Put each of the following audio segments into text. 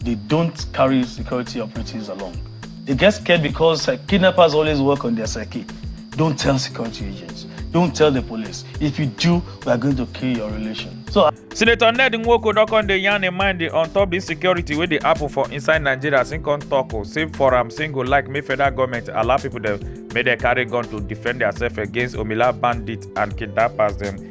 they don't carry security operatives along. They get scared because uh, kidnappers always work on their psyche. Don't tell security agents. Don't tell the police. If you do, we are going to kill your relation. So, uh, Senator Ned Nwoko don come dey yarn im mind on top insecurity wey dey happen for inside Nigeria as im come talk o say for am say go like make federal government allow people dem make dem carry gun to defend themselves against omila bandits and kidnappers dem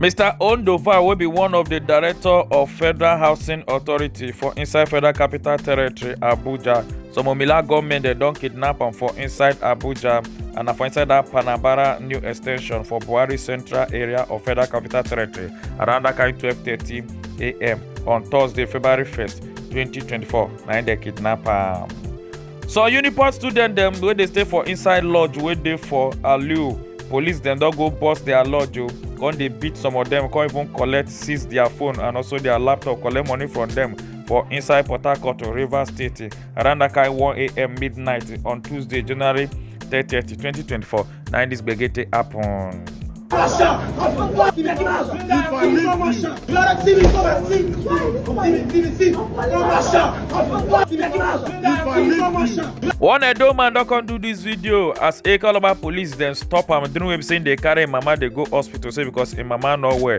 mr ondofa wey be one of di director of federal housing authority for inside federal capital territory abuja some omila gunmen dem don kidnap am for inside abuja and na for inside dat panabara new extension for buhari central area of federal capital territory around dat kind 12:30am on thursday february 1st 2024 na im dem kidnap am. some unipost students dem wey dey stay for inside lodge wey dey for aliu police dem don go burst their lodge o come dey beat some of dem come even collect seize their phone and also their laptop collect money from dem for inside port harcourt rivers state around that kind 1am midnight on tuesday january 30 2024 Now this gbege take happen. One Edo man don come do this video as Ekalaba police then stop am during wey be say im dey carry im mama dey go hospital say because im mama no well.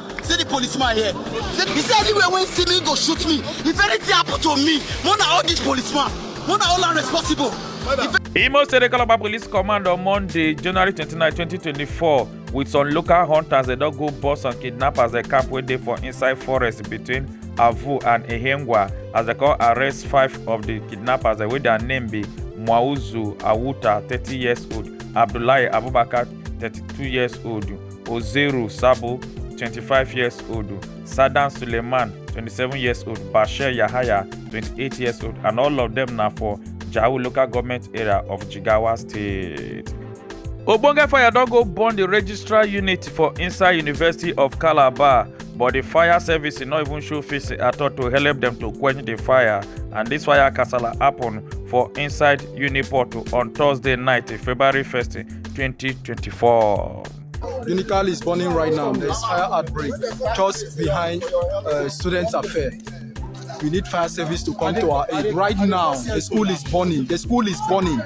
See the policeman here. Say, he say anywhere wey see me go shoot me. If anything happen to me, more na all this policeman, more na all am responsible. If Imo State Ekalaba Police Command on Monday, January 29, 2024, with some local hunters they don go bust some kidnappers dey camp wey dey for inside forest between Avu and Ehengwa as they come arrest five of the kidnappers wey their name be Mwauzu Awuta, 30 years old, Abdullahi Abubakar, 32 years old. Ozeru Sabo, 25 years old, Sadan Suleiman, 27 years old, Bashir Yahaya, 28 years old, and all of them na for Jau local government area of Jigawa State. Ogbonge fire don go burn the registrar unit for inside University of Calabar, but the fire service no even show face at all to help them to quench the fire. And this fire kasala happen for inside Uniport on Thursday night, February 1st, 2024. Unical is burning right now. There's fire outbreak just behind uh, Students Affair. We need fire service to come to our aid. Right now, the school is burning. The school is burning.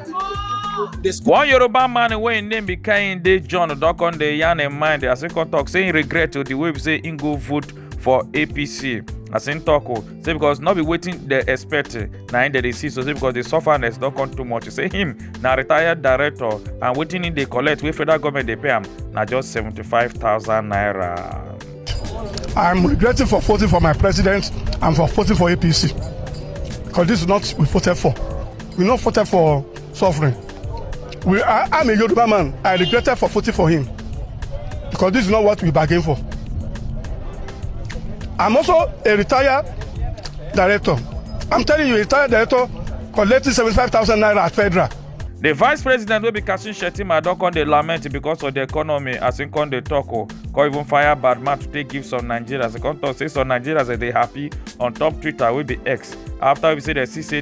The school One Yoruba man wey im name be Kehinde John don come dey yarn im mind as he come talk say he regret to the way be say he go vote for apc as im tok o say because no be wetin dem expect na im dem dey see so say because di sufferness don come too much say him na retired director and wetin im dey collect wey federal government dey pay am na just seventy five thousand naira. I'm regretting for voting for my president and for voting for APC because this is not we voted for. We not voted for suffering. We, I, I'm a Yoruba man. I regretted for voting for him because this is not what we bargained for. I'm also a retired director. I'm telling you, a retired director collecting 75,000 naira at federal. The vice president wey be Kashim Shettima don come dey lament because of the economy as im come dey talk o come even fire bad mouth to take give some Nigerians. He come talk say some Nigerians dey happy on top Twitter wey be X after we say dem see say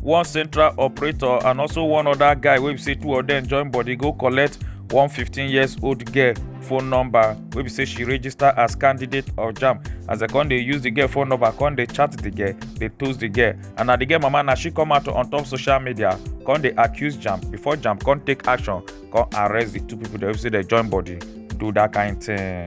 one central operator and also one other guy wey be say two of them join body go collect one 15 years old girl phone number wey be say she register as candidate of jam as dem come dey use the girl phone number come dey chat the girl dey toast the girl and na the girl mama na she come out on top social media come dey accuse jam before jam come take action come arrest the two people dem wey be say dem join body do that kind thing.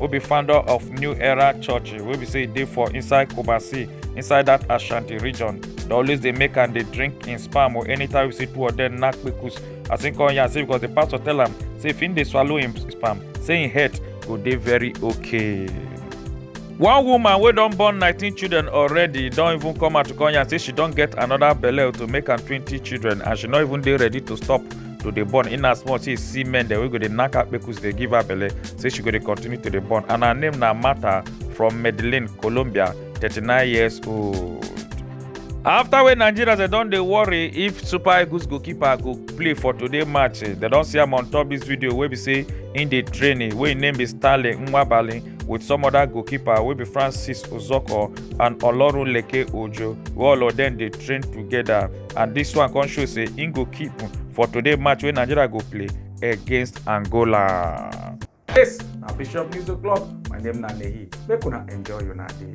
wey be founder of new era church wey be say e dey for inside kumasi inside that ashanti region dey always dey make am dey drink him sperm or anytime we see two of them knack kpekus as him come yarn say because the pastor tell am say if him dey swallow him sperm say him health go dey very okay. one woman wey don born 19 children already don even come out to come yarn say she don get another belle to make am 20 children and she no even dey ready to stop to dey born in as much say see men dem wey go dey knack her kpekus dey give her belle say she go dey continue to dey born and her name na martha from medellin colombia 39 years old. afta wey nigerians dem don dey worry if super eagles goalkeeper go play for today match dem don see am on top dis video wey be say im dey training wey im name be stanley nwabali with some other goalkeeper wey be francis ozoko and olorunleke ojo wey all of dem dey train togeda. and dis one come show say im go keep for today match wey nigeria go play against angola. This na Bishop News O'Clock. My name na Nehi. Make una enjoy una day.